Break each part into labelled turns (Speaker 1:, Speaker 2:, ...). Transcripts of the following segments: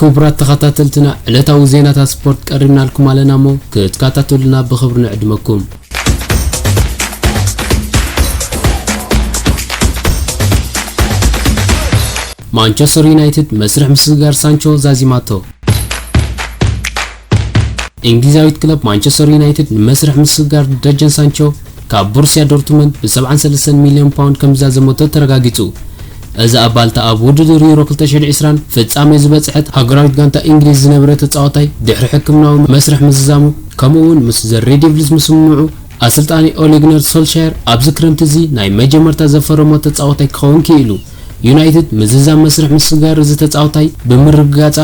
Speaker 1: ክቡራት ተኻታተልትና ዕለታዊ ዜናታት ስፖርት ቀሪብናልኩም ኣለና እሞ ክትካታተሉና ብኽብሪ ንዕድመኩም። ማንቸስተር ዩናይትድ መስርሕ ምስግጋር ሳንቾ ዛዚማቶ። እንግሊዛዊት ክለብ ማንቸስተር ዩናይትድ ንመስርሕ ምስግጋር ደጀን ሳንቾ ካብ ቦሩስያ ዶርትመንድ ብ ሰብዓን ሰለስተን ሚልዮን ፓውንድ ከምዝዛዘመቶ ተረጋጊጹ። እዛ ባልታ ኣብ ውድድር ዩሮ ክልተ ሽሕን ዕስራን ፍጻሜ ዝበጽሐት ሃገራዊት ጋንታ እንግሊዝ ዝነበረ ተጻዋታይ ድሕሪ ሕክምናዊ መስርሕ ምዝዛሙ ከምኡ'ውን ምስ ዘ ሬድ ደቪልስ ምስምምዑ ኣሰልጣኒ ኦሌ ግነር ሶልሻየር ኣብዚ ክረምቲ እዚ ናይ መጀመርታ ዘፈረሞ ተጻዋታይ ክኸውን ክኢሉ። ዩናይትድ ምዝዛም መስርሕ ምስግጋር እዚ ተጻዋታይ ብምርግጋጻ፣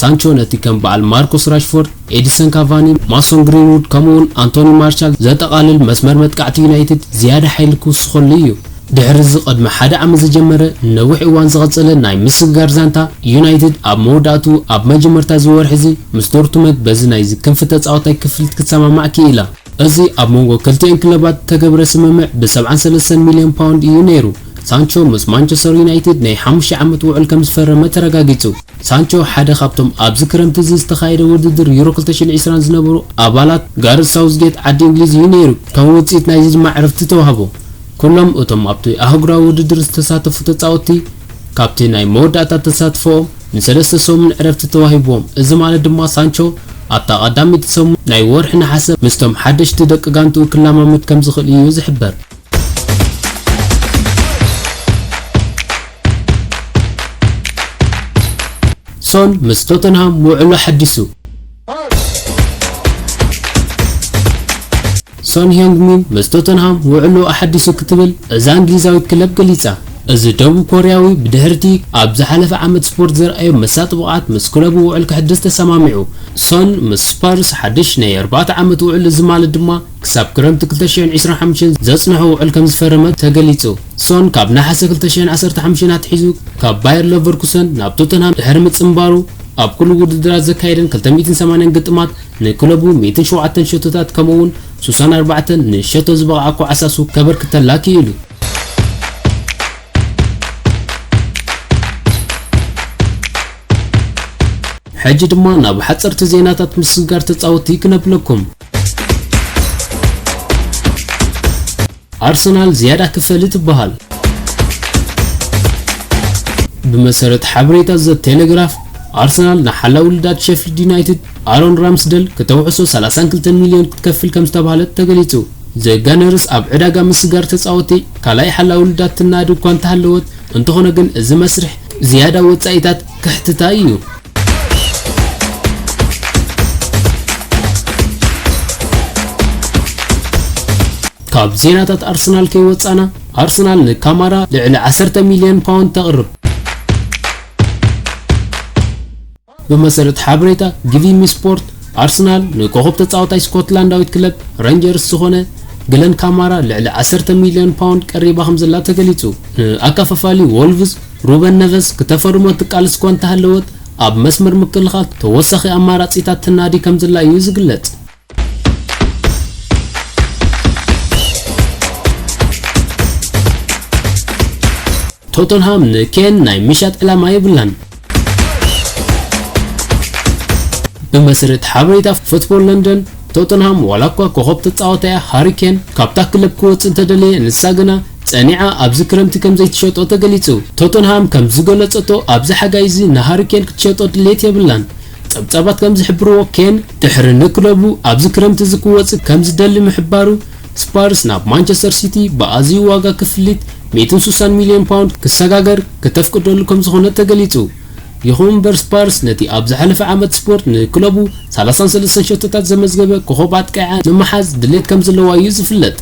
Speaker 1: ሳንቾ ነቲ ከም በዓል ማርኮስ ራሽፎርድ፣ ኤዲሰን ካቫኒ፣ ማሶን ግሪንዉድ ከምኡ'ውን ኣንቶኒ ማርሻል ዘጠቓልል መስመር መጥቃዕቲ ዩናይትድ ዝያዳ ሓይሊ ክውስኸሉ እዩ። ድሕሪ'ዚ ቅድሚ ሓደ ዓመት ዝጀመረ ንነዊሕ እዋን ዝቐጸለ ናይ ምስግጋር ዛንታ፣ ዩናይትድ ኣብ መወዳእትኡ ኣብ መጀመርታ እዚ ወርሒ'ዚ ምስ ዶርትመንት በዚ ናይዚ ክንፊ ተጻዋታይ ክፍሊት ክትሰማማዕ ክኢላ። እዚ ኣብ መንጎ ክልቲኤን ክለባት እተገብረ ስምምዕ ብ ሰብዓን ሰለስተን ሚልዮን ፓውንድ ኢዩ ነይሩ። ሳንቾ ምስ ማንቸስተር ዩናይትድ ናይ ሓሙሽተ ዓመት ውዑል ከም ዝፈረመ ተረጋጊጹ። ሳንቾ ሓደ ካብቶም ኣብዚ ክረምቲ እዚ ዝተኻየደ ውድድር ዩሮ ክልተ ሽሕን ዕስራን ዝነበሩ ኣባላት ጋርዝ ሳውዝጌት ዓዲ እንግሊዝ ኢዩ ነይሩ። ከም ውጽኢት ናይዚ ድማ ዕርፍቲ ተዋህቦ። ኩሎም እቶም ኣብቲ ኣህጉራዊ ውድድር ዝተሳተፉ ተጻወትቲ፣ ካብቲ ናይ መወዳእታ ተሳትፎኦም ንሰለስተ ሰሙን ዕረፍቲ ተዋሂብዎም፣ እዚ ማለት ድማ ሳንቾ ኣብታ ቀዳመይቲ ሰሙን ናይ ወርሒ ነሓሰ ምስቶም ሓደሽቲ ደቂ ጋንትኡ ክለማመድ ከምዝኽእል እዩ ዝሕበር። ሶን ምስ ቶተንሃም ውዕሉ ኣሐዲሱ። ሶን ህዮንግ ሚን ምስ ቶተንሃም ውዕልኡ ኣሓዲሱ ክትብል እዛ እንግሊዛዊት ክለብ ገሊጻ። እዚ ደቡብ ኮርያዊ ብድሕሪ'ቲ ኣብ ዝሓለፈ ዓመት ስፖርት ዘርኣዮ መሳጢ ብቕዓት ምስ ክለቡ ውዕል ከሕድስ ተሰማሚዑ። ሶን ምስ ስፐርስ ሓድሽ ናይ ኣርባዕተ ዓመት ውዕል እዚ ማለት ድማ ክሳብ ክረምቲ ክልተ ሽሕን ዕስራን ሓሙሽተን ዘጽንሖ ውዕል ከምዝፈረመ ተገሊጹ። ሶን ካብ ነሓሰ ክልተ ሽሕን ዓሰርተ ሓሙሽተን ኣትሒዙ ካብ ባየር ለቨርኩሰን ናብ ቶተንሃም ድሕሪ ምጽንባሩ፣ ኣብ ኩሉ ውድድራት ዘካየደን ክልተ ሚእትን ሰማንያን ግጥማት ንክለቡ ሚእትን ሸውዓተን ሸቶታት ከምኡ'ውን ሱሳን ኣርባዕተን ንሸቶ ዝበቕዓ ኳዕሳሱ ከበርክተላ ክኢሉ። ሕጂ ድማ ናብ ሓጸርቲ ዜናታት ምስግጋር ተጻወትቲ ክነብለኩም። ኣርሰናል ዝያዳ ክፈሊ ትበሃል። ብመሰረት ሓበሬታ ዘ ቴሌግራፍ ኣርሰናል ንሓላ ውልዳት ሼፍልድ ዩናይትድ ኣሮን ራምስደል ክተውዕሶ 32 ሚልዮን ክትከፍል ከም ዝተባህለት ተገሊጹ። ዘጋነርስ ኣብ ዕዳጋ ምስጋር ተጻወቲ ካልኣይ ሓላ ውልዳት ትናዲ እኳ እንተሃለወት፣ እንተኾነ ግን እዚ መስርሕ ዝያዳ ወጻኢታት ከሕትታ እዩ። ካብ ዜናታት ኣርሰናል ከይወጻና ኣርሰናል ንካማራ ልዕሊ 10 ሚልዮን ፓውንድ ተቕርብ ብመሰረት ሓበሬታ ጊቪሚ ስፖርት ኣርሰናል ንኮኸብ ተጻዋታይ ስኮትላንዳዊት ክለብ ረንጀርስ ዝኾነ ግለን ካማራ ልዕሊ 10 ሚልዮን ፓውንድ ቀሪባ ከም ዘላ ተገሊጹ ንኣካፋፋሊ ወልቭስ ሩበን ነቨዝ ክተፈርሞ እትቃልስ እኳ እንተሃለወት፣ ኣብ መስመር ምክልኻል ተወሳኺ ኣማራጺታት ትናዲ ከምዘላ እዩ ዝግለጽ። ቶተንሃም ንኬን ናይ ምሻጥ ዕላማ የብላን። ብመሰረት ሓበሬታ ፉትቦል ለንደን፣ ቶተንሃም ዋላኳ ኮኾብ ተጻዋታያ ሃሪ ኬን ካብታ ክለብ ክወጽእ እንተደለየ፣ ንሳ ግና ጸኒዓ ኣብዚ ክረምቲ ከም ዘይትሸጦ ተገሊጹ። ቶተንሃም ከም ዝገለጸቶ ኣብዚ ሓጋይ እዚ ንሃሪ ኬን ክትሸጦ ድሌት የብላን። ጸብጻባት ከም ዝሕብርዎ ኬን ድሕሪ ንክለቡ ኣብዚ ክረምቲ እዚ ክወጽእ ከም ዝደሊ ምሕባሩ ስፐርስ ናብ ማንቸስተር ሲቲ ብኣዝዩ ዋጋ ክፍሊት ሚእትን ሱሳን ሚልዮን ፓውንድ ክሰጋገር ክተፍቅደሉ ከም ዝኾነት ተገሊጹ። ይኹን እምበር ስፐርስ ነቲ ኣብ ዝሓለፈ ዓመት ስፖርት ንክለቡ ሰላሳን ሰለስተን ሸቶታት ዘመዝገበ ኮኾብ ኣጥቃዒዓ ንምሓዝ ድሌት ከም ዘለዋ እዩ ዝፍለጥ።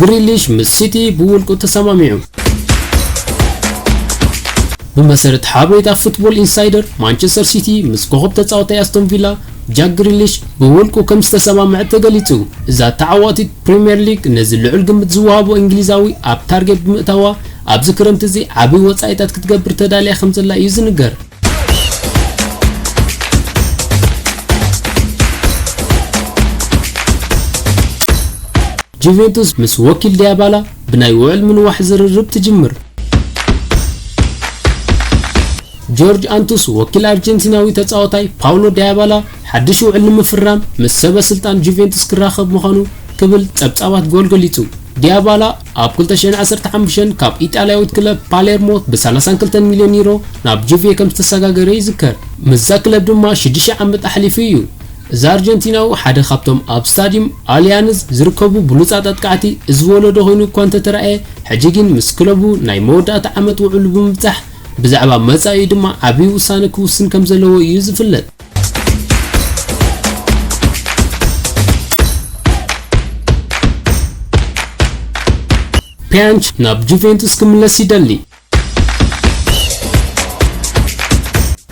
Speaker 1: ግሪሊሽ ምስ ሲቲ ብውልቁ ተሰማሚዑ። ብመሰረት ሓበሬታ ፉትቦል ኢንሳይደር ማንቸስተር ሲቲ ምስ ኮኸብ ተጻወታይ ኣስቶን ቪላ ጃክ ግሪሊሽ ብውልቁ ከም ዝተሰማምዐ ተገሊጹ። እዛ ተዓዋቲት ፕሪምየር ሊግ ነዚ ልዑል ግምት ዝወሃቦ እንግሊዛዊ ኣብ ታርጌት ብምእታዋ ኣብዚ ክረምቲ እዚ ዓቢ ወጻኢታት ክትገብር ተዳልያ ከም ዘላ እዩ ዝንገር። ጁቬንቱስ ምስ ወኪል ዲያባላ ብናይ ውዕል ምንዋሕ ዝርርብ ትጅምር ጆርጅ ኣንቱስ ወኪል ኣርጀንቲናዊ ተጻዋታይ ፓውሎ ዲያባላ ሓድሽ ውዕል ንምፍራም ምስ ሰበ ስልጣን ጁቬንቱስ ክራኸብ ምዃኑ ክብል ጸብጻባት ጎል ገሊጹ ዲያባላ ኣብ ክልተ ሽሕን ዓሰርተ ሓሙሽተን ካብ ኢጣልያዊት ክለብ ፓሌርሞ ብሰላሳን ክልተን ሚልዮን ዩሮ ናብ ጁቬ ከም ዝተሰጋገረ ይዝከር። ምስዛ ክለብ ድማ ሽዱሽተ ዓመት ኣሕሊፉ እዩ። እዚ ኣርጀንቲናዊ ሓደ ካብቶም ኣብ ስታድዩም ኣልያንዝ ዝርከቡ ብሉጻት ኣጥቃዕቲ እዚ ወለዶ ኮይኑ እኳ እንተተራእየ፣ ሕጂ ግን ምስ ክለቡ ናይ መወዳእታ ዓመት ውዕሉ ብምብጻሕ ብዛዕባ መጻኢኡ ድማ ዓቢ ውሳነ ክውስን ከም ዘለዎ እዩ ዝፍለጥ። ፒያንች ናብ ጁቬንቱስ ክምለስ ይደሊ።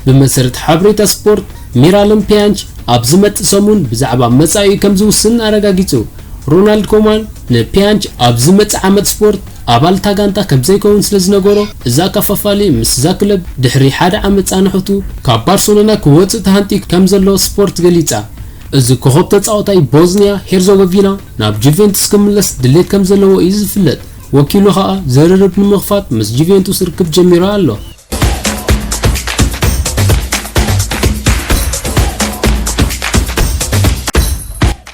Speaker 1: ብመሰረት ሓበሬታ ስፖርት ሚራለም ፒያንች ኣብ ዝመጽእ ሰሙን ብዛዕባ መጻኢኡ ከም ዝውስን ኣረጋጊጹ። ሮናልድ ኮማን ንፒያንች ኣብ ዝመጽእ ዓመት ስፖርት ኣባል እታ ጋንታ ከምዘይከውን ስለዝነገሮ፣ እዚ ኣከፋፋሊ ምስዛ ክለብ ድሕሪ ሓደ ዓመት ጻንሖቱ ካብ ባርሰሎና ክወጽእ ተሃንጥዩ ከምዘሎ ስፖርት ገሊጻ። እዚ ኮኾብ ተጻዋታይ ቦዝንያ ሄርዞጎቪና ናብ ጁቬንቱስ ክምለስ ድሌት ከምዘለዎ እዩ ዝፍለጥ፣ ወኪሉ ከኣ ዝርርብ ንምኽፋት ምስ ጁቬንቱስ ርክብ ጀሚሩ ኣሎ።